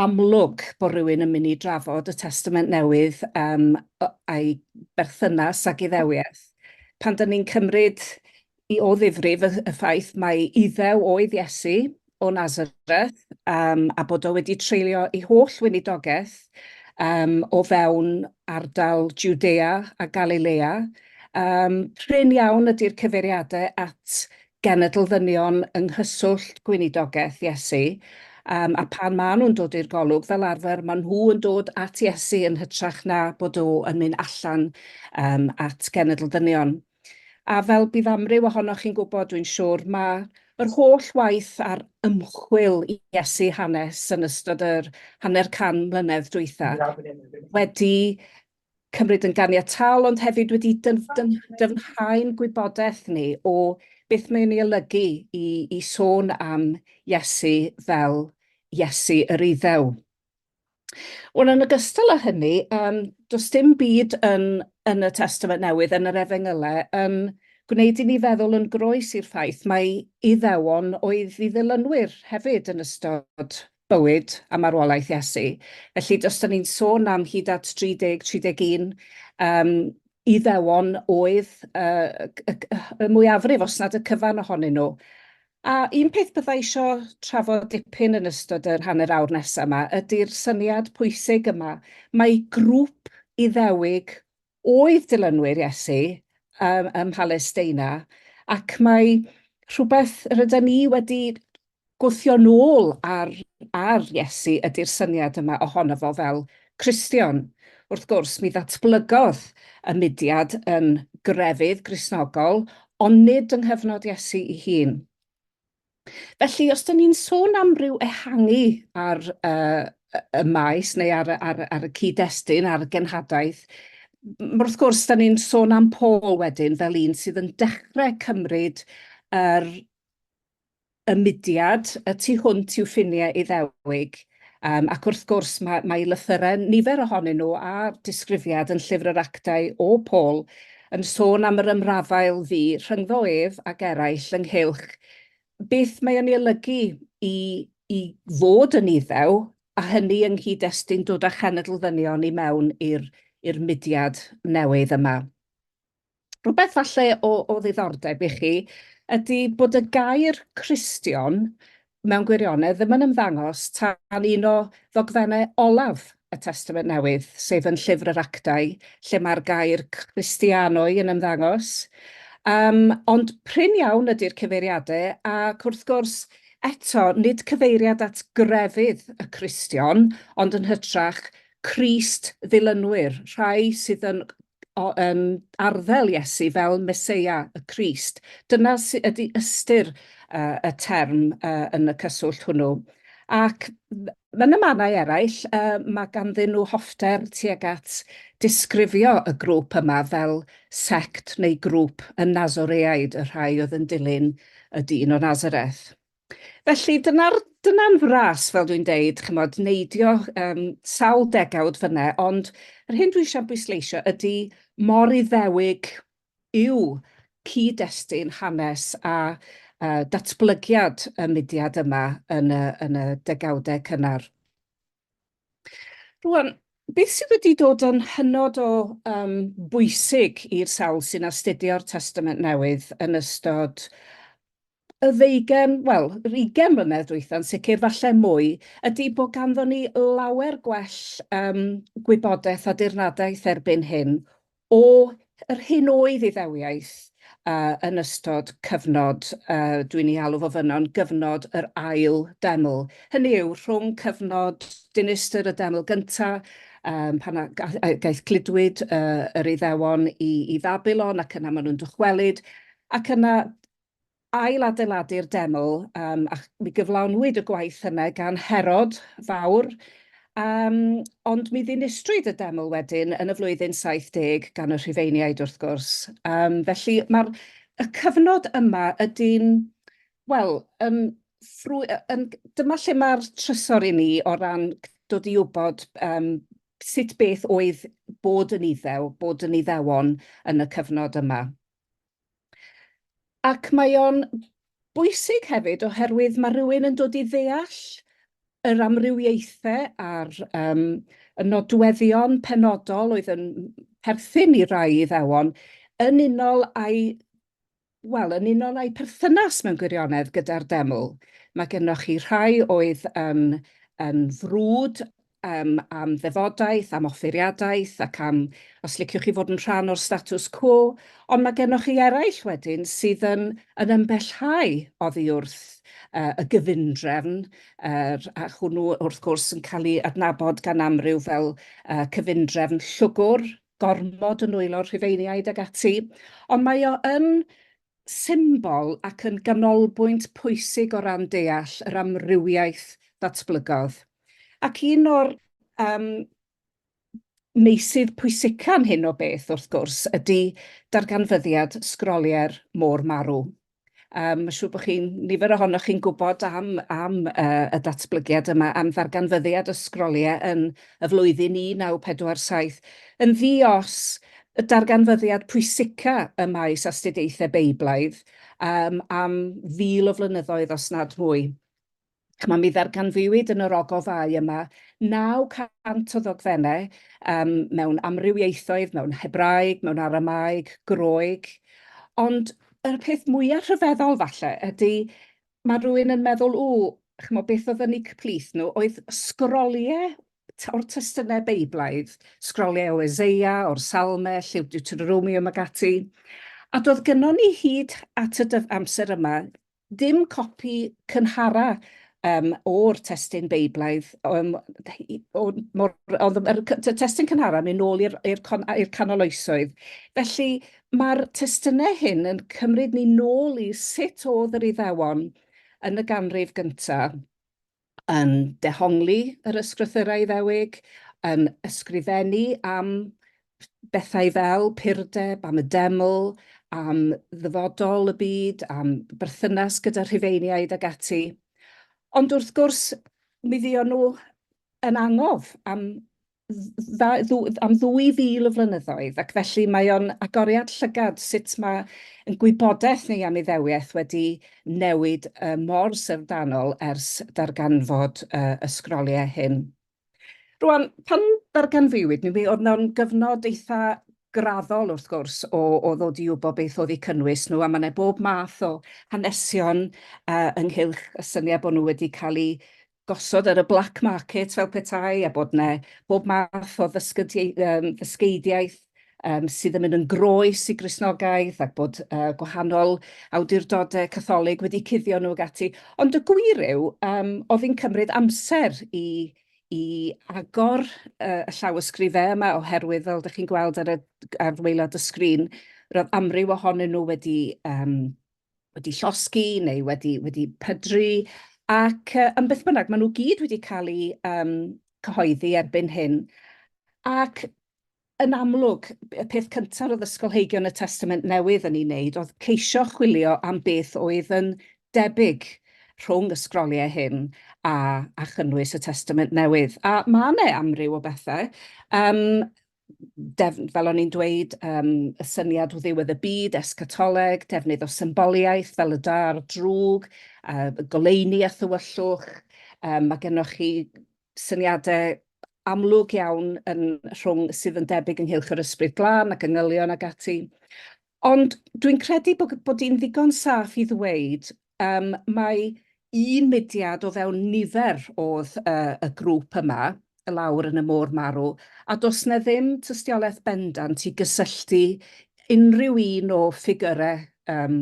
amlwg bod rhywun yn mynd i drafod y Testament Newydd um, a'i berthynas ag iddewiaeth. Pan dyn ni'n cymryd i o ddifrif y, y ffaith mae iddew oedd Iesu o Nazareth um, a bod o wedi treulio ei holl weinidogaeth um, o fewn ardal Judea a Galilea, um, prin iawn ydy'r cyfeiriadau at genedl ddynion yng nghyswllt gweinidogaeth Iesu, yym, a phan maen nhw'n dod i'r golwg, fel arfer, maen nhw yn dod at Iesu yn hytrach na bod o yn mynd allan um, at genedl ddynion. A fel bydd amryw ohonoch chi'n gwybod, dwi'n siŵr, mae yr holl waith a'r ymchwil i Iesu hanes yn ystod yr hanner can mlynedd dwytha wedi cymryd yn ganiataol ond hefyd wedi dyfnhau'n gwybodaeth ni o beth mae'n ei olygu i sôn am Iesu fel Iesu yr Iddew. Wel, yn ogystal â hynny, does dim byd yn y Testament Newydd, yn yr Efengylau, yn gwneud i ni feddwl yn groes i'r ffaith mai Iddewon oedd ei ddilynwyr hefyd yn ystod bywyd a marwolaeth Iesu. Felly, os da ni'n sôn am hyd at 30, 31, um, iddewon oedd uh, y, y, y mwyafrif, os nad y cyfan ohonyn nhw. A un peth byddai eisiau trafod dipyn yn ystod yr hanner awr nesaf yma ydy'r syniad pwysig yma. Mae grŵp iddewig oedd dilynwyr Iesu um, ym Mhalesteina, ac mae rhywbeth rydyn ni wedi gwthio nôl ar, ar Iesu ydy'r syniad yma ohono fo fel Cristion. Wrth gwrs, mi ddatblygodd y mudiad yn grefydd grisnogol, ond nid yng nghyfnod Iesu i hun. Felly, os dyn ni'n sôn am ryw ehangu ar uh, y maes neu ar, ar, ar y cyd-destun, ar y genhadaeth, wrth gwrs, dyn ni'n sôn am Paul wedyn fel un sydd yn dechrau cymryd yr y mudiad y tu hwnt i'w ffiniau Iddewig. Yym ac wrth gwrs mae mae lythyre nifer ohonyn nhw a disgrifiad yn Llyfr yr Actau o Paul yn sôn am yr ymrafael fu rhyngddo ef ac eraill ynghylch beth mae yn ei olygu i i fod yn Iddew a hynny yng nghyd-destun dod â chenedl ddynion i mewn i'r i'r mudiad newydd yma. Rhywbeth falle o, o ddiddordeb i chi ydy bod y gair Cristion mewn gwirionedd ddim yn ymddangos tan un o ddogfennau olaf y Testament Newydd, sef yn Llyfr yr Actau, lle mae'r gair Christianoi yn ymddangos. Um, ond prin iawn ydy'r cyfeiriadau, ac wrth gwrs, eto, nid cyfeiriad at grefydd y Cristion, ond yn hytrach Crist ddilynwyr, rhai sydd yn o, um, arddel Iesu fel Meseia y Crist. Dyna sydd ydy ystyr uh, y term uh, yn y cyswllt hwnnw. Ac yn y mannau eraill, uh, mae ganddyn nhw hoffter tuag at disgrifio y grŵp yma fel sect neu grŵp y Nazoreaid, y rhai oedd yn dilyn y dyn o Nazareth. Felly dyna'r dyna'n fras fel dwi'n deud, ch'mod, neidio yym sawl degawd fynne, ond yr hyn dwi eisiau bwysleisio ydy mor Iddewig yw cyd-destun hanes a uh, datblygiad y mudiad yma yn y, yn y degawdau cynnar. Rwan, beth sydd wedi dod yn hynod o um, bwysig i'r sawl sy'n astudio'r Testament Newydd yn ystod y ddeugen, wel, yr ugen mlynedd dwytha'n sicr, falle mwy, ydy bod ganddo ni lawer gwell um, gwybodaeth a dirnadaeth erbyn hyn o yr hyn oedd iddewiaeth uh, yn ystod cyfnod, uh, dwi'n ei alw fo fyno'n gyfnod yr ail deml. Hynny yw, rhwng cyfnod dinistr y deml gyntaf, um, pan gaeth gludwyd uh, yr iddewon i, i Fabilon ac yna maen nhw'n dychwelyd, ac yna ail-adeiladu'r deml, um, a mi gyflawnwyd y gwaith yna gan Herod fawr, um, ond mi ddinistrwyd y deml wedyn yn y flwyddyn 70 gan y Rhufeiniaid wrth gwrs. Um, felly mae'r y cyfnod yma ydy'n, wel, yn, ffrwy, yn, dyma lle mae'r trysor i ni o ran dod i wybod um, sut beth oedd bod yn iddew, bod yn iddewon yn y cyfnod yma. Ac mae o'n bwysig hefyd oherwydd mae rhywun yn dod i ddeall yr amrywiaethau a'r um, y nodweddion penodol oedd yn perthyn i rai iddewon yn unol â'i wel, yn unol â'i perthynas mewn gwirionedd gyda'r deml. Mae gennych chi rhai oedd yn, yn frwd um, am ddefodaeth, am offeiriadaeth ac am os liciwch chi fod yn rhan o'r status quo, ond mae gennych chi eraill wedyn sydd yn, yn ymbellhau oddi wrth uh, y gyfundrefn, er, a hwnnw wrth gwrs yn cael ei adnabod gan amryw fel uh, cyfundrefn llwgwr, gormod yn nwylo'r rhufeiniaid ag ati, ond mae o yn symbol ac yn ganolbwynt pwysig o ran deall yr amrywiaeth ddatblygodd. Ac un o'r um, meysydd pwysica'n hyn o beth, wrth gwrs, ydy darganfyddiad sgroliau'r môr marw. Um, Mae'n siŵr bod chi'n nifer ohonoch chi'n gwybod am, am uh, y datblygiad yma, am ddarganfyddiad y sgroliau yn y flwyddyn 1947, yn ddi-os, y darganfyddiad pwysica ym maes astudiaethau Beiblaidd um, am fil o flynyddoedd os nad mwy. Chma, mi ddarganfuwyd yn yr ogofau yma 900 o ddogfennau um, mewn amrywiaethoedd, mewn Hebraeg, mewn Aramaeg, Groeg, ond y peth mwyaf rhyfeddol falle ydy mae rhywun yn meddwl, o, chymod, beth oedd yn eu cyplith nhw, oedd sgroliau o'r testunau Beiblaidd, sgroliau o Ezeia, o'r Salme, Llyw Deuteronomium ac ati. A doedd gynnon ni hyd at y amser yma ddim copi cynhara um, o'r testyn Beiblaidd, um, o, mor, oedd y testyn cynhara mynd nôl i'r canoloesoedd. Felly, Mae'r testunau hyn yn cymryd ni nôl i sut oedd yr Iddewon yn y ganrif gyntaf yn dehongli yr Ysgrythyrau Iddewig, yn ysgrifennu am bethau fel purdeb, am y deml, am ddyfodol y byd, am berthynas gyda Rhufeiniaid ac ati. Ond wrth gwrs, mi fuon nhw yn angof am am 2,000 o flynyddoedd, ac felly mae o'n agoriad llygad sut mae ein gwybodaeth ni am Iddewiaeth wedi newid mor syfrdanol ers darganfod y sgroliau hyn. Rŵan, pan ddarganfuwyd nhw, mi oedd 'na gyfnod eitha' graddol, wrth gwrs, o ddod i wybod beth oedd eu cynnwys nhw, a ma' 'na bob math o hanesion ynghylch y syniad bod nhw wedi cael eu gosod ar y black market fel petai, a bod yna bob math o ddysgeidiaeth sydd yn mynd yn groes i Gristnogaeth, ac bod gwahanol awdurdodau Catholig wedi cuddio nhw ac ati. Ond y gwir yw, oedd hi'n cymryd amser i agor y llawysgrifau yma, oherwydd, fel dych chi'n gweld ar waelod y sgrin, roedd amryw ohonyn nhw wedi wedi llosgi neu wedi, wedi pydru, ac uh, yn beth bynnag, maen nhw gyd wedi cael eu um, cyhoeddi erbyn hyn. Ac yn amlwg, y peth cyntaf oedd ysgolheigion y Testament Newydd yn ei wneud oedd ceisio chwilio am beth oedd yn debyg rhwng y sgroliau hyn a, a chynnwys y Testament Newydd. A mae yna amryw o bethau. Um, fel o'n i'n dweud, um, y syniad o ddiwedd y byd, escatoleg, defnydd o symboliaeth fel y dar drwg, uh, goleini a thywyllwch. Um, mae gennych chi syniadau amlwg iawn yn rhwng sydd yn debyg ynghylch yr ysbryd glân ac yngylion ag ati. Ond dwi'n credu bod, bod i'n ddigon saff i ddweud um, mae un mudiad o fewn nifer oedd uh, y grŵp yma, y lawr yn y môr marw, a does na ddim tystiolaeth bendant i gysylltu unrhyw un o ffigurau um,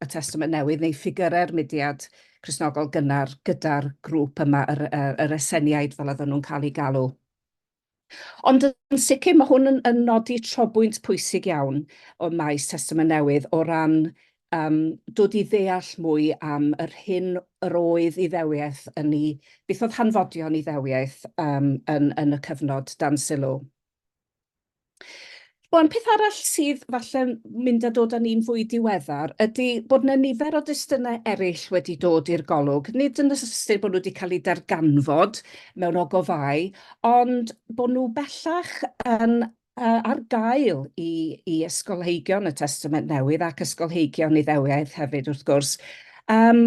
y Testament Newydd neu ffigurau'r mudiad Cresnogol gynnar gyda'r grŵp yma, yr, yr, yr eseniaid fel oedden nhw'n cael eu galw. Ond yn sicr mae hwn yn, yn nodi trobwynt pwysig iawn o maes Testament Newydd o ran um, dod i ddeall mwy am yr hyn yr oedd iddewiaeth yn ei... beth oedd hanfodion iddewiaeth um, yn, yn y cyfnod dan sylw. Wan, peth arall sydd falle'n mynd a dod â ni'n fwy diweddar ydy bod yna nifer o destunau eraill wedi dod i'r golwg, nid yn y sense bod nhw wedi cael eu darganfod mewn ogofâu, ond bod nhw bellach yn yy ar gael i i ysgolheigion y Testament Newydd ac ysgolheigion Iddewiaeth hefyd wrth gwrs. Yym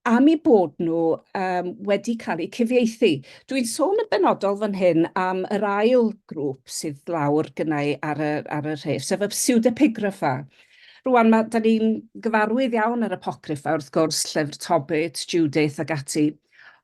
am eu bod nhw um, wedi cael eu cyfieithu. Dwi'n sôn yn benodol fan hyn am yr ail grŵp sydd lawr gynnau ar y, ar y rhef, sef y pseudepigrapha. Rwan, mae, da ni'n gyfarwydd iawn ar apocryffa, wrth gwrs, llyfr Tobit, Judith ac ati.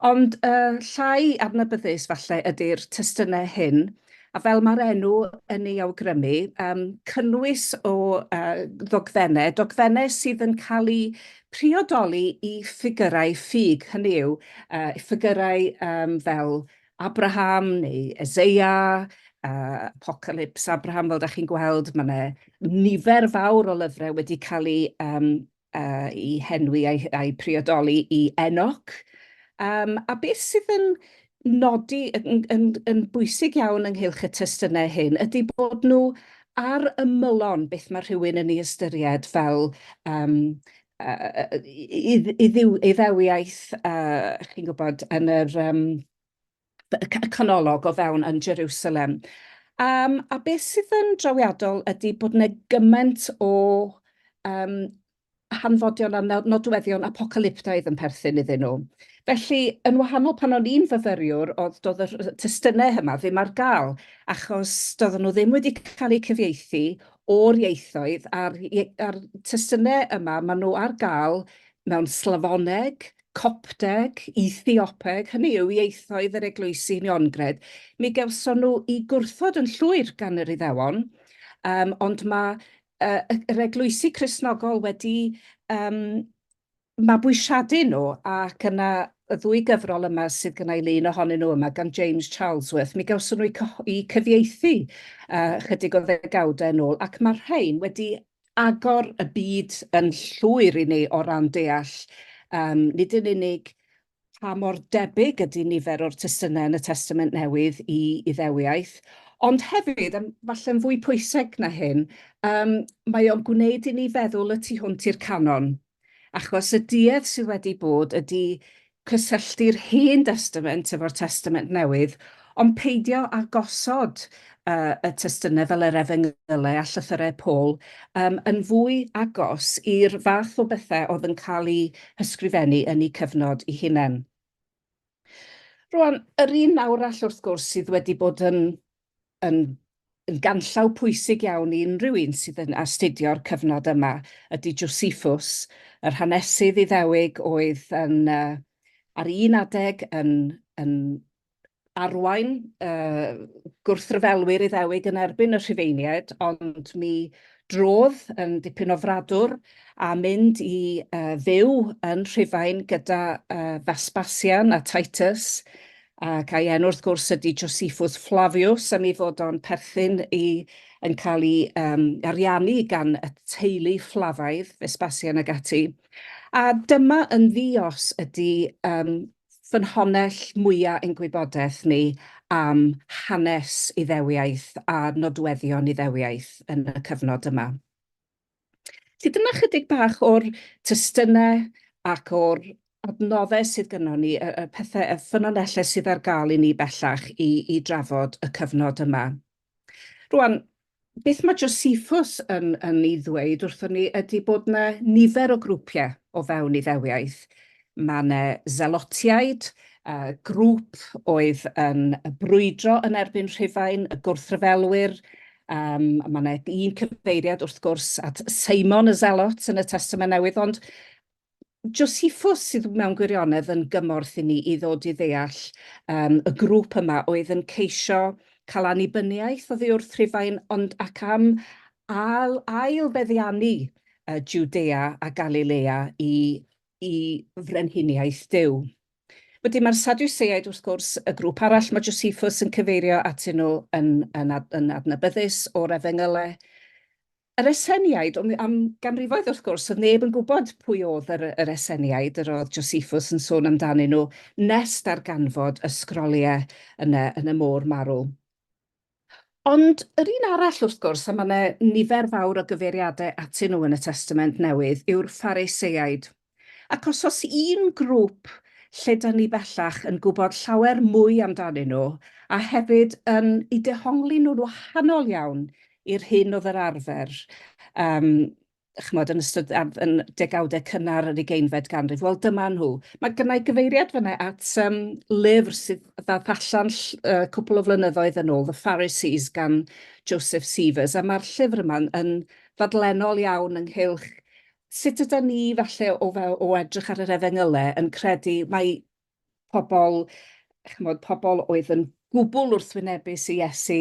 Ond uh, llai adnabyddus falle ydy'r testunau hyn, a fel mae'r enw yn ei awgrymu, um, cynnwys o uh, ddogfennau, dogfennau sydd yn cael eu priodoli i ffigyrau ffug, hynny yw, uh, ffigyrau um, fel Abraham neu Ezeia, uh, Apocalypse Abraham, fel da chi'n gweld, mae yna nifer fawr o lyfrau wedi cael ei, um, uh, i henwi a'i, a'i priodoli i Enoch. Um, a beth sydd yn nodi yn, yn, yn bwysig iawn ynghylch y testunau hyn ydy bod nhw ar ymylon beth mae rhywun yn ei ystyried fel um, uh, i, i, ddiw, i ddewiaeth, uh, chi'n gwybod, yn yr um, y canolog o fewn yn Jerusalem. Um, a beth sydd yn drawiadol ydy bod yna gymaint o um, hanfodion a nodweddion apocalyptaidd yn perthyn iddyn nhw. Felly, yn wahanol pan o'n i'n fyfyriwr, oedd doedd yr testunau yma ddim ar gael, achos doedden nhw ddim wedi cael eu cyfieithu o'r ieithoedd, a'r, ar testunau yma, maen nhw ar gael mewn Slafoneg, Copteg, Ethiopeg, hynny yw ieithoedd yr eglwysi uniongred. Mi gewson nhw i gwrthod yn llwyr gan yr Iddewon, um, ond mae yr eglwysi Cristnogol wedi yym mabwysiadu nhw, ac yna y ddwy gyfrol yma sydd gynna i lun ohonyn nhw yma gan James Charlesworth, mi gawson nhw eu cyfieithu ychydig o ddegawdau yn ôl, ac mae'r rhain wedi agor y byd yn llwyr i ni o ran deall, nid yn unig pa mor debyg ydy nifer o'r testunau yn y Testament Newydd i Iddewiaeth, ond hefyd, a falle'n fwy pwysig na hyn, um, mae o'n gwneud i ni feddwl y tu hwnt i'r canon. Achos y duedd sydd wedi bod ydy cysylltu'r Hen Testament efo'r Testament Newydd, Ond peidio â gosod y testynnau fel yr Efengylau a Llythyrau Paul yn fwy agos i'r fath o bethau oedd yn cael eu hysgrifennu yn eu cyfnod eu hunain. Rŵan, yr un arall, wrth gwrs, sydd wedi bod yn yn yn ganllaw pwysig iawn i unrhyw un sydd yn astudio'r cyfnod yma ydy Josephus, yr hanesydd Iddewig oedd yn, ar un adeg, yn yn arwain y gwrthryfelwyr Iddewig yn erbyn y Rhufeiniaid, ond mi drodd yn dipyn o fradwr a mynd i uh, fyw yn Rhufain gyda uh, Vespasian a Titus, ac a'i enw wrth gwrs ydy Josephus Flavius, am ei fod o'n perthyn i yn cael ei um, ariannu gan y teulu Fflafaidd, Vespasian ag ati. A dyma yn ddios ydy um, ffynhonnell mwya' ein gwybodaeth ni am hanes Iddewiaeth a nodweddion Iddewiaeth yn y cyfnod yma. Felly dyna chydig bach o'r testynau ac o'r adnoddau sydd gynnon ni, y y pethe, y ffynonellau sydd ar gael i ni bellach i i drafod y cyfnod yma. Rwan, beth mae Josephus yn, yn ei ddweud wrthon ni ydy bod yna nifer o grwpiau o fewn Iddewiaeth. Mae yna Zelotiaid, uh, grŵp oedd yn brwydro yn erbyn Rhufain, y gwrthryfelwyr. Um, mae yna un cyfeiriad wrth gwrs at Simon y Zelot yn y Testament Newydd, ond Josephus sydd mewn gwirionedd yn gymorth i ni i ddod i ddeall um, y grŵp yma oedd yn ceisio cael annibyniaeth oddi wrth Rhufain, ond ac am ail, ail beddiannu uh, Judea a Galilea i, i frenhiniaeth Dyw. Wedyn mae'r Sadwseaid, wrth gwrs, y grŵp arall mae Josephus yn cyfeirio atyn nhw yn, yn, ad, yn adnabyddus o'r efengylau. Yr Esseniaid, ond am ganrifoedd wrth gwrs oedd neb yn gwybod pwy oedd yr yr Esseniaid yr oedd Josephus yn sôn amdanyn nhw nes darganfod y sgroliau yna yn y Môr Marw. Ond yr un arall wrth gwrs, a mae yna nifer fawr o gyfeiriadau atyn nhw yn y Testament Newydd, yw'r Phariseiaid. Ac os oes un grŵp lle dan ni bellach yn gwybod llawer mwy amdanyn nhw a hefyd yn eu dehongli nhw'n wahanol iawn i'r hyn oedd yr arfer yym chimod yn ystod yn degawdau cynnar yr ugeinfed ganrif, wel dyma nhw. Mae gynna i gyfeiriad fanna at um, lyfr sydd ddath allan uh, cwpl o flynyddoedd yn ôl, The Pharisees gan Joseph Sievers, a mae'r llyfr yma'n yn ddadlennol iawn ynghylch sut yda ni falle o fel o edrych ar yr efengylau yn credu mae pobl, chymod, pobl oedd yn gwbl wrthwynebus i Iesu,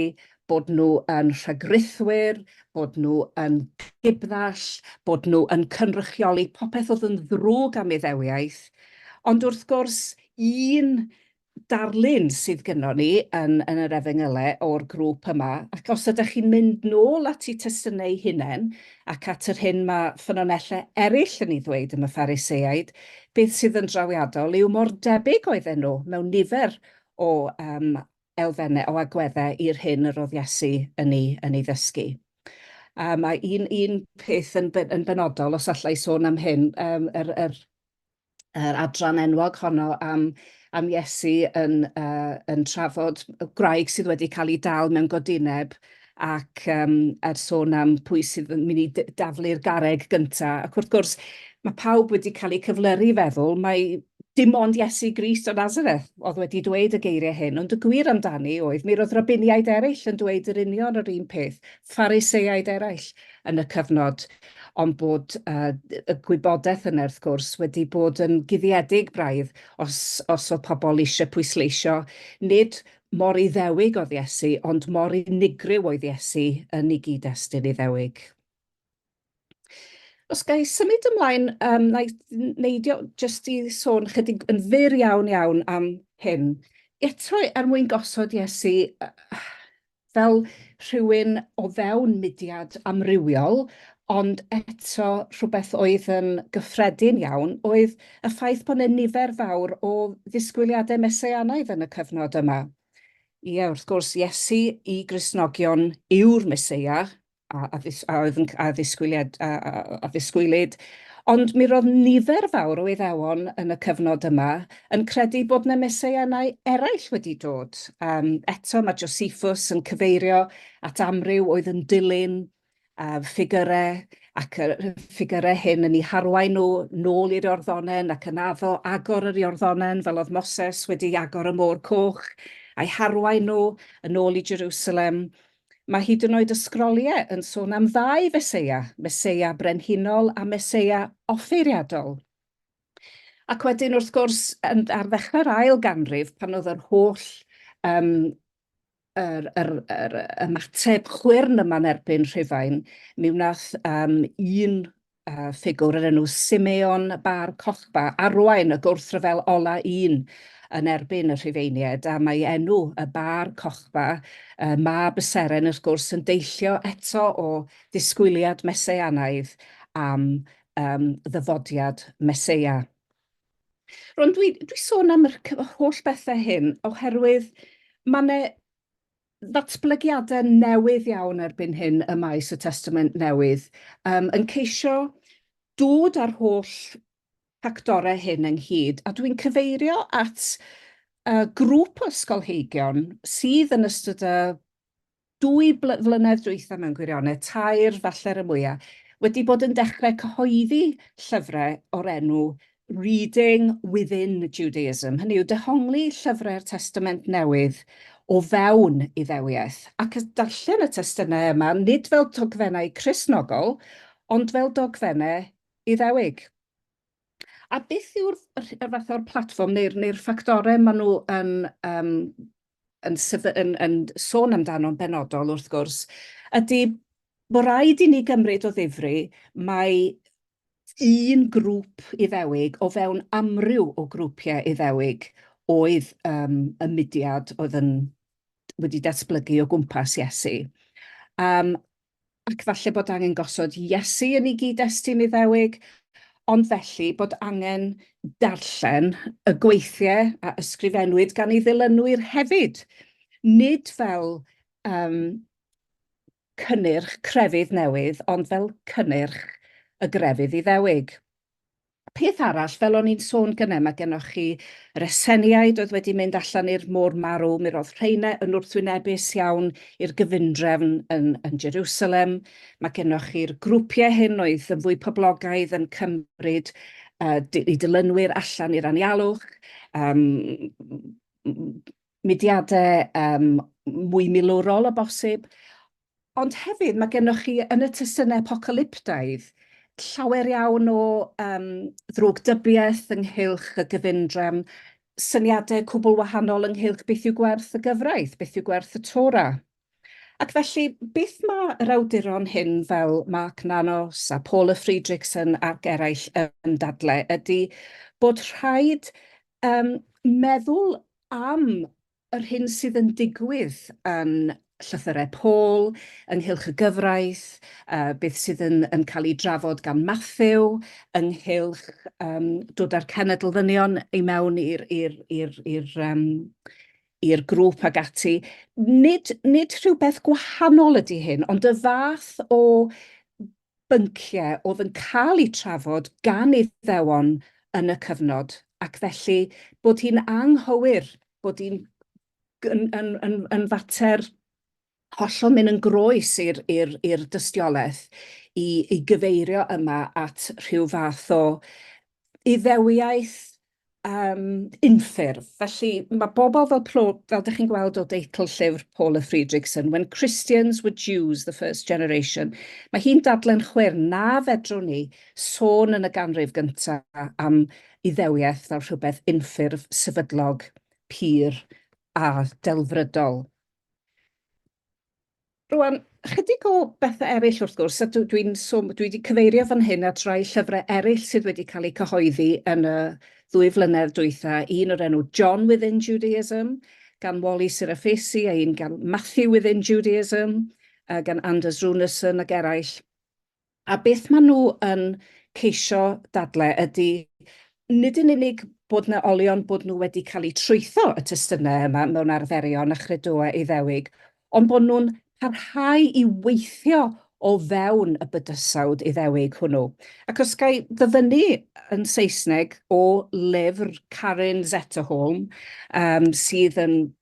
bod nhw yn rhagrithwyr, bod nhw yn gibddall, bod nhw yn cynrychioli popeth oedd yn ddrwg am Iddewiaeth. Ond wrth gwrs, un darlun sydd gynnon ni yn yn yr Efengylau o'r grŵp yma, ac os ydych chi'n mynd nôl at eu testynau eu hunain, ac at yr hyn mae ffynonellau eraill yn ei ddweud am y Phariseaid, beth sydd yn drawiadol yw mor debyg oedden nhw mewn nifer o yym elfennau, o agweddau i'r hyn yr oedd Iesu yn ei yn ei ddysgu. Yym a un un peth yn be- yn benodol, os alla i sôn am hyn, yym yr yr yr adran enwog honno am, am Iesu yn, uh, yn trafod y gwraig sydd wedi cael ei dal mewn godineb ac um, er sôn am pwy sydd yn mynd i daflu'r gareg gyntaf. Ac wrth gwrs, mae pawb wedi cael eu cyflyru i feddwl, mae dim ond Iesu Grist o Nazareth oedd wedi dweud y geiriau hyn, ond y gwir amdani oedd, mi roedd rabiniaid eraill yn dweud yr union yr un peth, phariseaid eraill yn y cyfnod. ond bod y gwybodaeth yna wrth gwrs wedi bod yn guddiedig braidd os os o'dd pobl eisiau pwysleisio nid mor Iddewig oedd Iesu ond mor unigryw oedd Iesu yn ei gyd-destun Iddewig. Os ga i symud ymlaen yym na i neidio jyst i sôn chydig yn fyr iawn iawn am hyn eto er mwyn gosod Iesu fel rhywun o fewn mudiad amrywiol, ond eto rhywbeth oedd yn gyffredin iawn oedd y ffaith bod 'na nifer fawr o ddisgwyliadau Messianaidd yn y cyfnod yma. Ie, wrth gwrs, Iesu i Gristnogion yw'r Meseia, a a ddis- a oedd yn c- a ddisgwyliad a a a a ddisgwylid, ond mi ro'dd nifer fawr o Iddewon yn y cyfnod yma yn credu bod 'na Messeianau eraill wedi dod. Yym eto ma' Josephus yn cyfeirio at amryw oedd yn dilyn yy ffigyre ac yy rhyw ffigyre hyn yn 'u harwain nw nôl i'r Iorddonen ac yn addo agor yr Iorddonen fel o'dd Moses wedi agor y Môr Coch, a'i harwain nw yn ôl i Jerusalem Mae hyd yn oed y Sgroliau yn sôn am ddau Feseia, Meseia brenhinol a Meseia offeiriadol. Ac wedyn, wrth gwrs, yn, ar ddechrau'r ail ganrif, pan oedd yr holl um, yr, yr, yr ymateb chwyrn yma'n erbyn Rhufain, mi wnaeth um, un uh, ffigwr yr enw Simeon Bar Cochba, arwain y gwrthryfel ola un yn erbyn y Rhufeiniaid, a mae enw y Bar Cochba, uh, mab y seren wrth gwrs, yn deillio eto o ddisgwyliad meseanaidd am um, ddyfodiad meseia. Rwy'n dwi, dwi sôn am yr holl bethau hyn oherwydd mae yna ddatblygiadau newydd iawn erbyn hyn ym maes y Testament Newydd, yym, yn ceisio dod â'r holl ffactorau hyn ynghyd, a dwi'n cyfeirio at y grŵp o ysgolheigion sydd yn ystod y dwy bl- flynedd dwytha mewn gwirionedd, tair falle'r y mwya, wedi bod yn dechrau cyhoeddi llyfrau o'r enw Reading within Judaism, hynny yw, dehongli llyfrau'r Testament Newydd o fewn Iddewiaeth, ac y darllen y testunau yma nid fel dogfennau Cristnogol, ond fel dogfennau Iddewig. A beth yw'r fath o'r platfform neu'r neu'r ffactorau maen nhw yn um, yn sef- yn yn sôn amdano'n benodol wrth gwrs ydy bod rhaid i ni gymryd o ddifri mae un grŵp Iddewig o fewn amryw o grwpiau Iddewig oedd um, y mudiad oedd yn wedi datblygu o gwmpas Iesu. Um, ac falle bod angen gosod Iesu yn ei gyd-destun Iddewig, ond felly bod angen darllen y gweithiau a ysgrifennwyd gan ei ddilynwyr hefyd, nid fel um, cynnyrch crefydd newydd, ond fel cynnyrch y grefydd Iddewig. Peth arall, fel o'n i'n sôn gyne, mae gennoch chi reseniaid oedd wedi mynd allan i'r Môr Marw, mi roedd rheine yn wrthwynebus iawn i'r gyfundrefn yn yn Jerusalem. Mae gennoch chi'r grwpiau hyn oedd yn fwy poblogaidd yn cymryd uh, di- 'u dilynwyr allan i'r anialwch, um, mudiadau um, mwy milwrol o bosib, Ond hefyd, mae gennych chi yn y testunau apocalyptaidd llawer iawn o um, ddrwgdybiaeth ynghylch y gyfundrefn, syniadau cwbl wahanol ynghylch beth yw gwerth y gyfraith, beth yw gwerth y Torah. Ac felly, beth mae yr awduron hyn fel Mark Nanos a Paula Friedrichsen ac eraill yn dadle ydy bod rhaid um, meddwl am yr hyn sydd yn digwydd yn llythyrau Paul ynghylch y gyfraith, beth sydd yn cael ei drafod gan Mathew ynghylch dod â'r cenedl ddynion i mewn i'r grŵp ac ati. Nid rhywbeth gwahanol ydy hyn, ond y fath o bynciau oedd yn cael eu trafod gan Iddewon yn y cyfnod, ac felly bod hi'n anghywir bod hi'n yn, yn, yn, yn fater hollol mynd yn groes i'r, i'r, i'r dystiolaeth i, i gyfeirio yma at rhyw fath o iddewiaeth um, unffurf. Felly mae bobl fel, plo, fel dych chi'n gweld o deitl llyfr Paula Friedrichsen, When Christians Were Jews, the First Generation, mae hi'n dadlen chwer na fedrwn ni sôn yn y ganrif gyntaf am iddewiaeth fel rhywbeth unffurf, sefydlog, pur a delfrydol. Rwan, ychydig o bethau eraill wrth gwrs, a dwi, dwi, dwi wedi cyfeirio fan hyn at rai llyfrau eraill sydd wedi cael eu cyhoeddi yn y ddwy flynedd dwytha, un o'r enw John Within Judaism, gan Wally Sirafesi, a un gan Matthew Within Judaism, uh, gan Anders Runeson ac eraill. A beth maen nhw yn ceisio dadlau ydy nid yn unig bod 'na olion bod nhw wedi cael eu trwytho y testunau yma mewn arferion a chredoau Iddewig, ond bod nhw'n parhau i weithio o fewn y bydysawd Iddewig hwnnw. Ac os ga i ddyfynnu yn Saesneg o lyfr Karin Zetterholm, um, sydd yn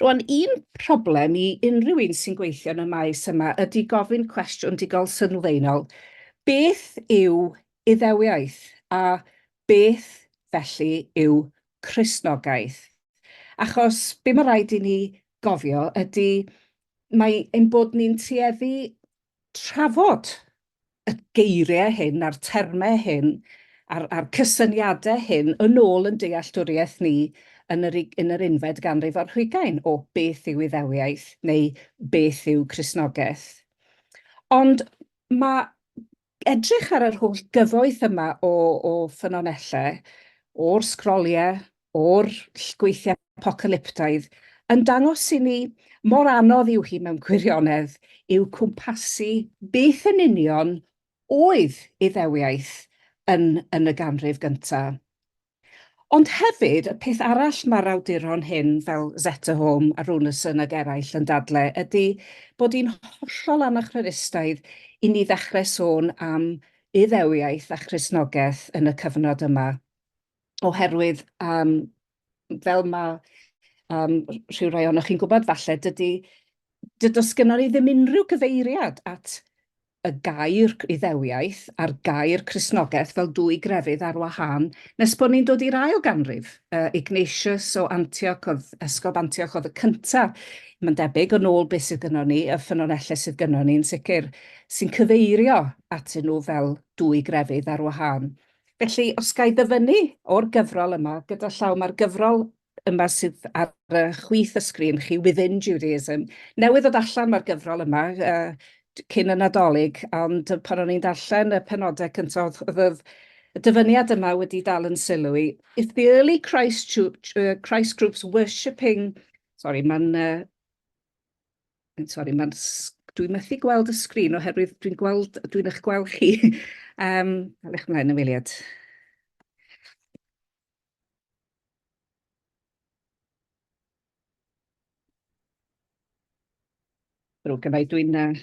Rwan, un problem i unrhyw un sy'n gweithio yn y maes yma ydy gofyn cwestiwn digol sylfaenol, beth yw Iddewiaeth a beth felly yw Cristnogaeth? Achos be mae rhaid i ni gofio ydy mae ein bod ni'n tueddu trafod y geiriau hyn a'r termau hyn a'r, a'r cysyniadau hyn yn ôl yn dealltwriaeth ni yn yr, yn yr unfed ganrif ar hugain o beth yw Iddewiaeth neu beth yw Cristnogaeth. Ond mae edrych ar yr holl gyfoeth yma o, o ffynonellau, o'r sgroliau o'r llgweithiau apocalyptaidd yn dangos i ni mor anodd yw hi mewn gwirionedd i'w cwmpasu beth yn union oedd Iddewiaeth yn yn y ganrif gynta. Ond hefyd, y peth arall mae'r awduron hyn, fel Zetterholm a Runarsson ag eraill yn dadle, ydy bod hi'n hollol anachronistaidd i ni ddechrau sôn am Iddewiaeth a Christnogaeth yn y cyfnod yma. oherwydd um, fel mae um, rhyw rai ohonoch chi'n gwybod falle, dydy, dydy sgynnon ni ddim unrhyw gyfeiriad at y gair iddewiaeth a'r gair Cresnogaeth fel dwy grefydd ar wahân nes bod ni'n dod i'r ail ganrif. Uh, Ignatius o Antioch, oedd Esgob Antioch oedd y cyntaf, mae'n debyg, yn ôl beth sydd gynnwn ni, y ffynonellau sydd gynnwn ni'n sicr, sy'n cyfeirio atyn nhw fel dwy grefydd ar wahân. Felly, os ga i ddyfynnu o'r gyfrol yma, gyda llaw, mae'r gyfrol yma sydd ar y chwith y sgrin chi, Within Judaism. Newydd ddod allan mae'r gyfrol yma, uh, cyn y Nadolig, ond pan o'n i'n darllen y penodau cyntaf, oedd y dyfyniad yma wedi dal yn sylw i. If the early Christ, Christ groups worshipping... Sorry, mae'n uh, I'm sorry, mae'n... dwi methu gweld y sgrin oherwydd dwi'n gweld... dwi'n eich gweld chi. um, Dal eich mlaen, ymweliad. Rwy'n gynnau, dwi'n... Uh,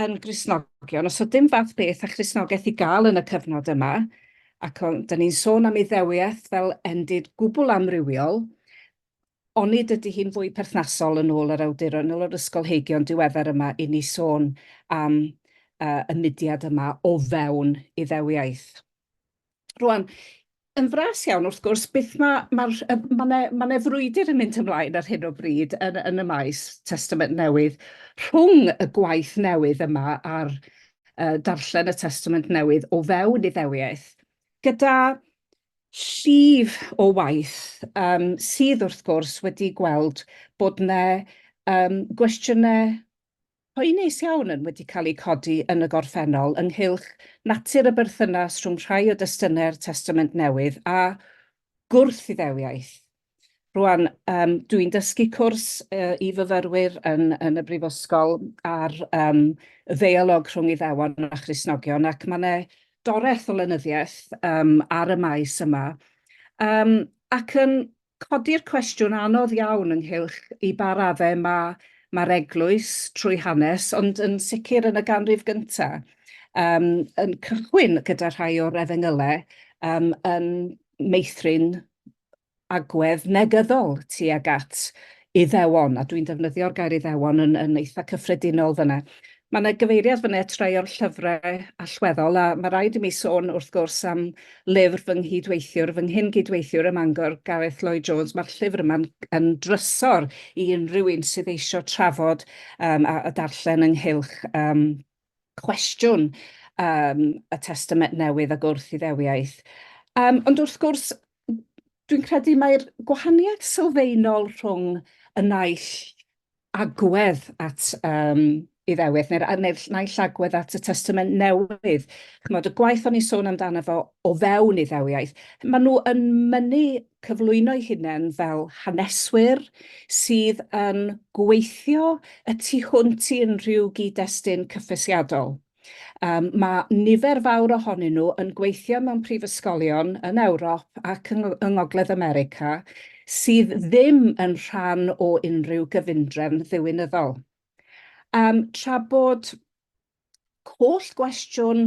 yn Gristnogion, os oedd dim fath beth a Christnogaeth i gael yn y cyfnod yma, ac o'n, da ni'n sôn am Iddewiaeth fel endid gwbl amrywiol, onid ydy hi'n fwy perthnasol yn ôl yr awduron, yn ôl yr ysgolheigion diweddar yma, i ni sôn am uh, y mudiad yma o fewn Iddewiaeth? Rwan, yn fras iawn, wrth gwrs, beth mae, mae'r, mae yna ma yna frwydr yn mynd ymlaen ar hyn o bryd yn, yn y maes Testament Newydd rhwng y gwaith newydd yma a'r uh, darllen y Testament Newydd o fewn iddewiaeth, gyda llif o waith um, sydd wrth gwrs wedi gweld bod yna um, gwestiynau Pwy neis iawn yn wedi cael eu codi yn y gorffennol ynghylch natur y berthynas rhwng rhai o destunau'r Testament Newydd a gwrth-Iddewiaeth. Rwan, um, dw i'n dysgu cwrs uh, i fyfyrwyr yn, yn y Brifysgol ar um, ddeialog rhwng Iddewon a Christnogion ac mae yna doreth o lenyddiaeth um, ar y maes yma. Um, ac yn Codi'r cwestiwn anodd iawn ynghylch i ba raddau mae mae'r eglwys, trwy hanes, ond yn sicr yn y ganrif gyntaf, um, yn cychwyn gyda rhai o'r efengylau um, yn meithrin agwedd negyddol tuag at Iddewon, a dwi'n defnyddio'r gair Iddewon yn yn eitha cyffredinol fanna. Ma' 'na gyfeiriad fanna at rai o'r llyfre allweddol, a ma' raid i mi sôn, wrth gwrs, am lyfr fy nghydweithiwr, fy nghyn-gydweithiwr ym Mangor, Gareth Lloyd Jones. Ma'r llyfr yma'n yn drysor i unrhyw un sydd eisio trafod yym a a darllen ynghylch yym cwestiwn yym y Testament Newydd ag wrth-Iddewiaeth. Yym ond wrth gwrs, dwi'n credu mai'r gwahaniaeth sylfaenol rhwng y naill agwedd at um, Iddewith, neu'r neu naill agwedd at y Testament Newydd. Chymod, y gwaith o'n i'n sôn amdano fo o fewn Iddewiaeth, maen nhw yn mynnu cyflwyno'i hunain fel haneswyr sydd yn gweithio y tu hwnt i unrhyw gyd-destun cyffesiadol. Yym, mae nifer fawr ohonyn nhw yn gweithio mewn prifysgolion yn Ewrop ac yng yng Ngogledd America sydd ddim yn rhan o unrhyw gyfundrefn ddiwinyddol. Yym, tra bod holl gwestiwn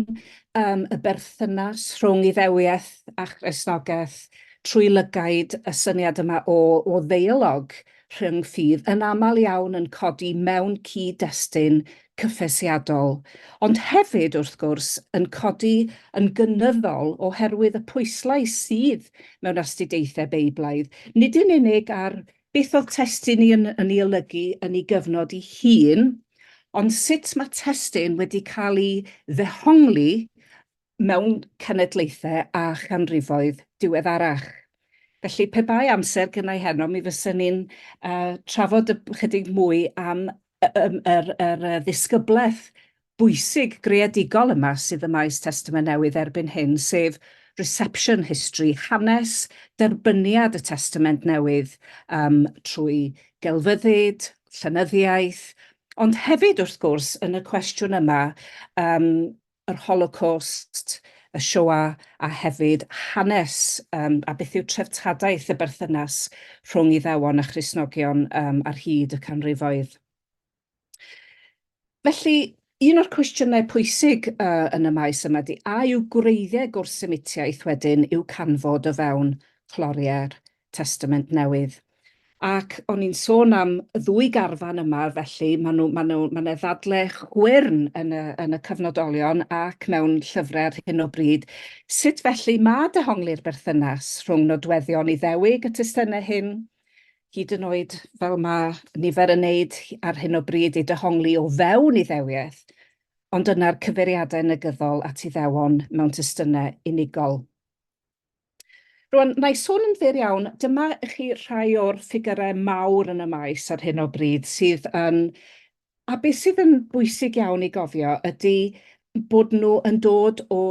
yym y berthynas rhwng Iddewiaeth a Christnogaeth trwy lygaid y syniad yma o o ddeialog rhyng ffydd yn aml iawn yn codi mewn cyd-destun cyffesiadol, ond hefyd, wrth gwrs, yn codi yn gynyddol oherwydd y pwyslais sydd mewn astudiaethau Beiblaidd, nid yn unig ar beth oedd testun ni yn yn ei olygu yn ei gyfnod ei hun, ond sut mae testun wedi cael ei ddehongli mewn cenedlaethau a chanrifoedd diweddarach. Felly, pe bai amser gynna i heno, mi fysa ni'n uh, trafod ychydig mwy am yr, yr, yr ddisgyblaeth bwysig greadigol yma sydd y maes Testament Newydd erbyn hyn, sef reception history, hanes derbyniad y Testament Newydd um, trwy gelfyddyd, llenyddiaeth, ond hefyd wrth gwrs yn y cwestiwn yma um, yr Holocost, y Shoah a hefyd hanes yym a beth yw treftadaeth y berthynas rhwng Iddewon a Christnogion yym ar hyd y canrifoedd. Felly, un o'r cwestiynau pwysig yy yn y maes yma ydy a yw gwreiddiau gwrth-Semitiaeth wedyn i'w canfod o fewn cloriau'r Testament Newydd. Ac o'n ni'n sôn am y ddwy garfan yma, felly maen nhw, maen nhw, maen nhw ddadle chwyrn yn y, yn y cyfnodolion ac mewn llyfrau ar hyn o bryd. Sut felly mae dehongli'r berthynas rhwng nodweddion Iddewig y testunau hyn, hyd yn oed fel mae nifer yn neud ar hyn o bryd ei dehongli o fewn Iddewiaeth, ond yna'r cyfeiriadau negyddol at Iddewon mewn testunau unigol. Rwan, na i sôn yn fyr iawn, dyma i chi rhai o'r ffigyrau mawr yn y maes ar hyn o bryd sydd yn... A beth sydd yn bwysig iawn i gofio ydy bod nhw yn dod o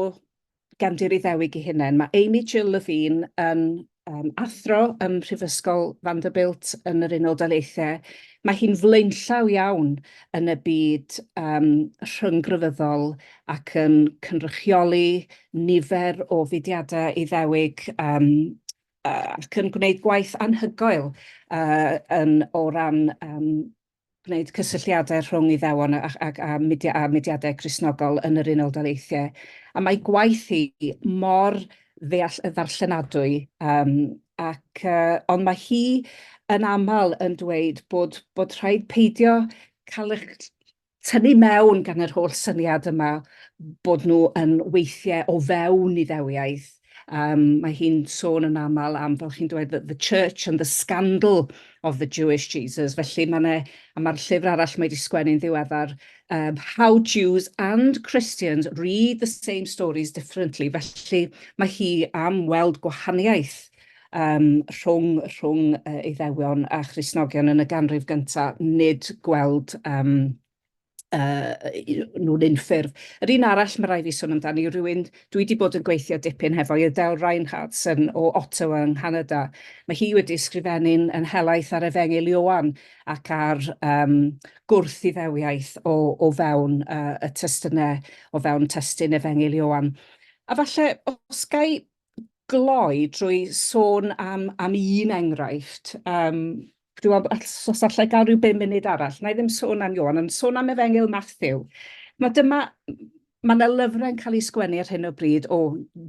gefndir Iddewig ei hunain. Mae Amy Jill Levine yn um, athro ym Mhrifysgol Vanderbilt yn yr Unol Daleithiau. Mae hi'n flaenllaw iawn yn y byd um, rhynggrefyddol ac yn cynrychioli nifer o fudiadau Iddewig yym yy ac yn gwneud gwaith anhygoel yy yn o ran yym gwneud cysylltiadau rhwng Iddewon a a a mudia- a mudiadau Cristnogol yn yr Unol Daleithiau. A mae ei gwaith hi mor ddeall- yy ddarllenadwy yym ac yy ond mae hi yn aml yn dweud bod bod rhaid peidio cael eich tynnu mewn gan yr holl syniad yma bod nhw yn weithiau o fewn Iddewiaeth. Um, mae hi'n sôn yn aml am, fel chi'n dweud, the, the church and the scandal of the Jewish Jesus. Felly mae yna, a mae'r llyfr arall mae wedi sgwennu'n ddiweddar, um, How Jews and Christians Read the Same Stories Differently. Felly mae hi am weld gwahaniaeth yym rhwng rhwng yy Eiddewion a Christnogion yn y ganrif gynta, nid gweld yym yy nhw'n unffurf. Yr un arall ma' rai' fi sôn amdani yw rywun dwi 'di bod yn gweithio dipyn hefo i Adele Reinhartz yn o Ottawa yng Nghanada. Ma' hi wedi ysgrifennu'n yn helaeth ar Efengyl Ioan ac ar yym gwrth-Iddewiaeth o o fewn yy y testune o fewn testun Efengyl Ioan. A falle os gai gloi drwy sôn am, am un enghraifft. Um, Dwi'n meddwl, os allai gael rhyw bum munud arall, na i ddim sôn am Iwan, ond sôn am Efengil Matthew. Mae dyma, mae yna lyfrau yn cael eu sgwennu ar hyn o bryd o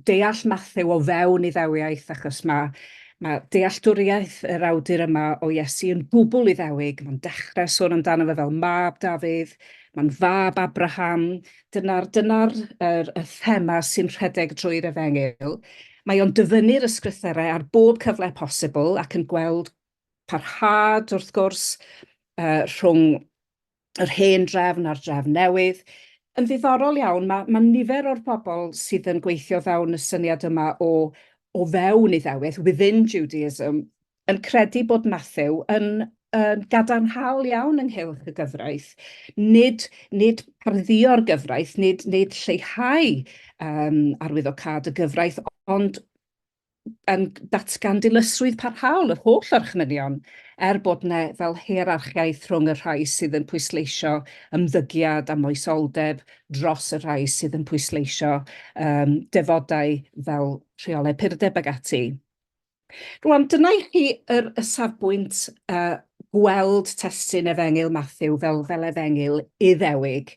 deall Matthew o fewn iddewiaeth, achos mae Mae dealltwriaeth yr awdur yma o Iesu yn gwbl Iddewig. Mae'n dechrau sôn amdano fe fel mab Dafydd, mae'n fab Abraham, Dyna'r dyna'r yr y thema sy'n rhedeg drwy'r Efengyl. Mae o'n dyfynnu'r ysgrythyrau ar bob cyfle posibl ac yn gweld parhad wrth gwrs uh, rhwng yr hen drefn a'r drefn newydd. Yn ddiddorol iawn, mae, mae nifer o'r bobl sydd yn gweithio fewn y syniad yma o o fewn Iddewith, within Judaism, yn credu bod Mathew yn yn gadarnhaol iawn ynghylch y gyfraith. Nid, nid pardduo'r gyfraith, nid, nid lleihau um, arwyddocad y gyfraith, ond yn datgan dilysrwydd parhaol yr holl orchmynion, er bod yna fel hierarchiaeth rhwng y rhai sydd yn pwysleisio ymddygiad a moesoldeb dros y rhai sydd yn pwysleisio um, defodau fel rheolau purdeb ag ati. Rŵan, dyna i chi yr y safbwynt yy gweld testun Efengyl Mathew fel fel Efengyl Iddewig.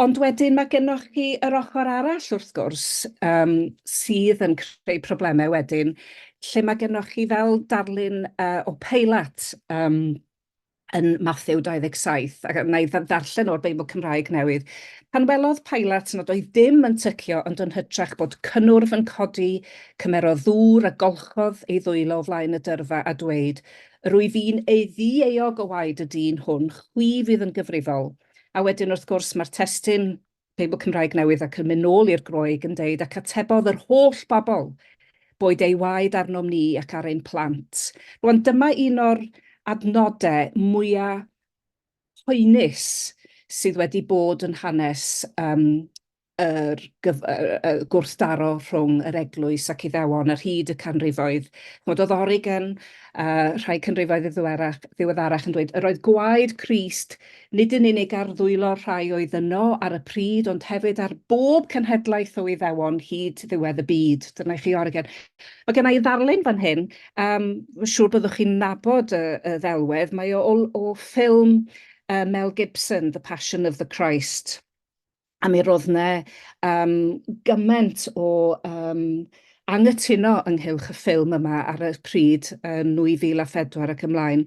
Ond wedyn mae gennoch chi yr ochr arall wrth gwrs yym sydd yn creu problemau wedyn lle mae gennoch chi fel darlun yy o Peilat yym yn Mathew 27, ac na i ddarllen o'r Beibl Cymraeg newydd. Pan welodd Pilat nad oedd dim yn tycio ond yn hytrach bod cynnwrf yn codi, cymerodd ddŵr a golchodd ei ddwylo o flaen y dyrfa a dweud, Rwyf i'n eiddi euog o waed y dyn hwn, chwi fydd yn gyfrifol. A wedyn wrth gwrs mae'r testun Teibl Cymraeg Newydd ac yn mynd nôl i'r Groeg yn deud ac atebodd yr holl bobl boed ei waed arnom ni ac ar ein plant. Rwan dyma un o'r adnode mwya poenus sydd wedi bod yn hanes yym yr gyf- yy yy gwrthdaro rhwng yr eglwys ac Iddewon ar hyd y canrifoedd. Ch'mod o'dd Origen a rhai canrifoedd ddiddwerach ddiweddarach yn dweud yr oedd gwaed Crist nid yn unig ar ddwylo'r rhai oedd yno ar y pryd, ond hefyd ar bob cenhedlaeth o Iddewon hyd ddiwedd y byd. Dyna i chi orgen. Mae gen i ddarlun fan hyn, um, siŵr byddwch chi'n nabod y, y ddelwedd, mae o, o, o ffilm uh, Mel Gibson, The Passion of the Christ. a mi ro'dd 'ne yym gyment o yym anghytuno ynghylch y ffilm yma ar y pryd yn 2004 ac ymlaen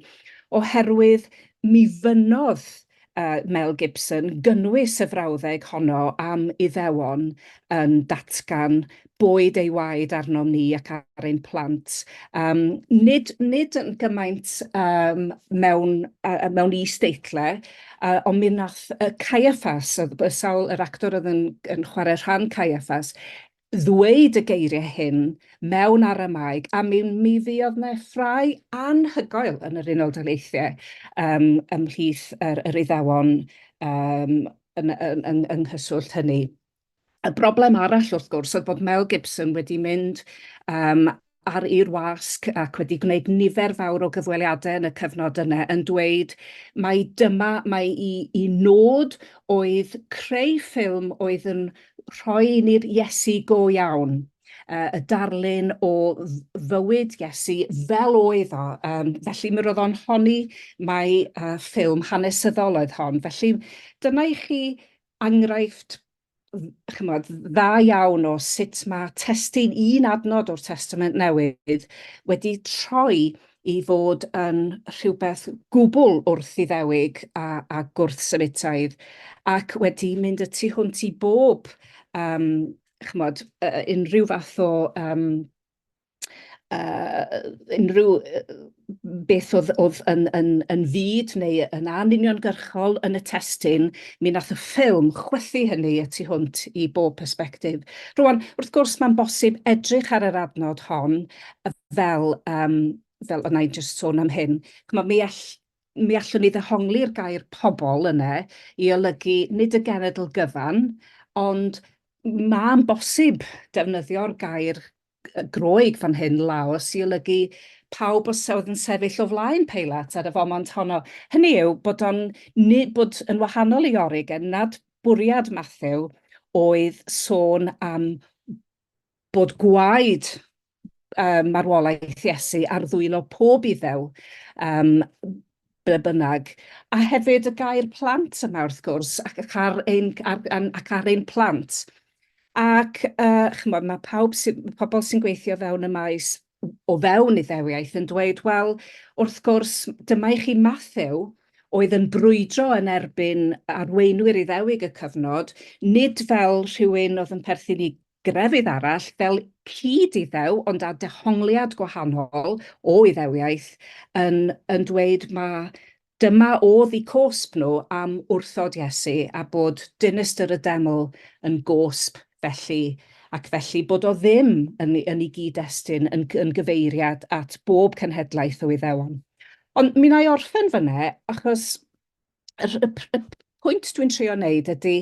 oherwydd mi fynnodd yy Mel Gibson gynnwys y frawddeg honno am Iddewon yn datgan boed ei waed arnom ni ac ar ein plant. Um, nid, nid yn gymaint um, mewn, uh, mewn is-deitle, uh, ond mi wnaeth uh, Caiaffas, y sawl yr actor oedd yn, yn chwarae rhan Caiaffas, ddweud y geiriau hyn mewn aramaeg, a mi, mi fuodd yna ffrau anhygoel yn yr Unol Daleithiau um, ymhlith yr, yr iddewon um, yn, yn, yn, yng nghyswllt hynny. Y broblem arall wrth gwrs oedd bod Mel Gibson wedi mynd um, ar i'r wasg ac wedi gwneud nifer fawr o gyfweliadau yn y cyfnod yna yn dweud mai dyma mai i, i nod oedd creu ffilm oedd yn rhoi ni'r Iesu go iawn uh, y darlun o fywyd Iesu fel oedd o. Um, felly mi roedd o'n honi mai uh, ffilm hanesyddol oedd hon. Felly dyna i chi enghraifft chymod, dda iawn o sut mae testun un adnod o'r Testament Newydd wedi troi i fod yn rhywbeth gwbl wrth iddewig a, a gwrthsynitaidd, ac wedi mynd y tu hwnt i bob, um, chymod, uh, unrhyw fath o um, yy unrhyw yy beth o'dd o'dd yn yn yn fud neu yn anuniongyrchol yn y testun, mi nath y ffilm chwythu hynny y tu hwnt i bob persbectif. Rŵan, wrth gwrs, mae'n bosib edrych ar yr adnod hon fel yym fel o'na i jyst sôn am hyn, ch'mo' mi all- mi allwn ni ddehongli'r gair pobol yne i olygu nid y genedl gyfan, ond ma'n bosib defnyddio'r gair Groeg fan hyn, Laos, i olygu pawb os oedd yn sefyll o flaen Peilat ar y fomont honno. Hynny yw bod o'n bod yn wahanol i Origen nad bwriad Matthew oedd sôn am bod gwaed um, marwolaeth Iesu ar ddwylo pob iddew. Um, ble bynnag, a hefyd y gair plant yma wrth gwrs, ac, ac, ar, ein, ar, ac ar ein plant. Ac, uh, chymod, mae pawb sy, pobl sy'n gweithio fewn y maes o fewn iddewiaeth yn dweud, wel, wrth gwrs, dyma i chi Matthew oedd yn brwydro yn erbyn arweinwyr Iddewig y cyfnod, nid fel rhywun oedd yn perthyn i Grefydd arall fel cyd-Iddew ond â dehongliad gwahanol o Iddewiaeth yn yn dweud ma' dyma o'dd 'u cosb nhw am wrthod Iesu a bod dinistr y Deml yn gosb felly ac felly bod o ddim yn yn ei gyd-destun yn yn gyfeiriad at bob cenhedlaeth o Iddewon. Ond mi wna i orffen fyn'ne achos y y y pwynt dwi'n trio wneud ydy,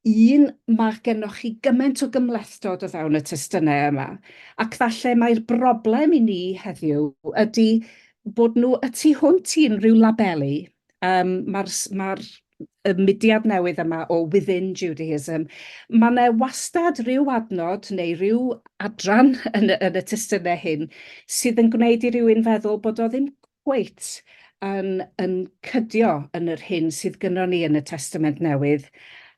un, mae gennych chi gymaint o gymhlethdod o fewn y testunau yma, ac falle mai'r broblem i ni heddiw ydy bod nhw y tu hwnt i unrhyw labelu. Um, Mae'r ma y mudiad newydd yma o Within Judaism, mae yna wastad rhyw adnod neu rhyw adran yn y, yn y testunau hyn sydd yn gwneud i rywun feddwl bod o ddim Wyt, yn yn cydio yn yr hyn sydd gynnon ni yn y Testament Newydd.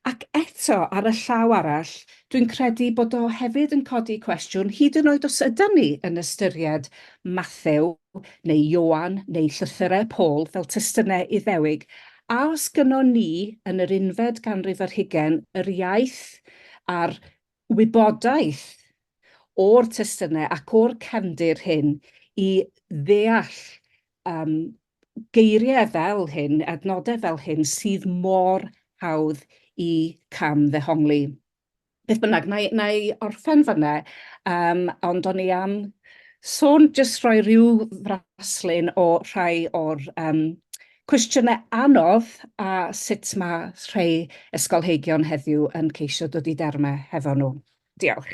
Ac eto, ar y llaw arall, dwi'n credu bod o hefyd yn codi cwestiwn, hyd yn oed os ydan ni yn ystyried Mathew, neu Ioan, neu llythyrau Paul fel testunau Iddewig, a os gynnon ni, yn yr unfed ganrif ar hugain, yr iaith a'r wybodaeth o'r testunau ac o'r cefndir hyn i ddeall yym geiriau fel hyn, adnodau fel hyn sydd mor hawdd i cam-ddehongli. Beth bynnag, na i, na i orffen fanna, um, ond o'n i am sôn, jyst rhoi rhyw fraslun o rhai o'r um, Cwestiynau anodd a sut mae rhei ysgolheigion heddiw yn ceisio dod i dermau hefo nhw. Diolch.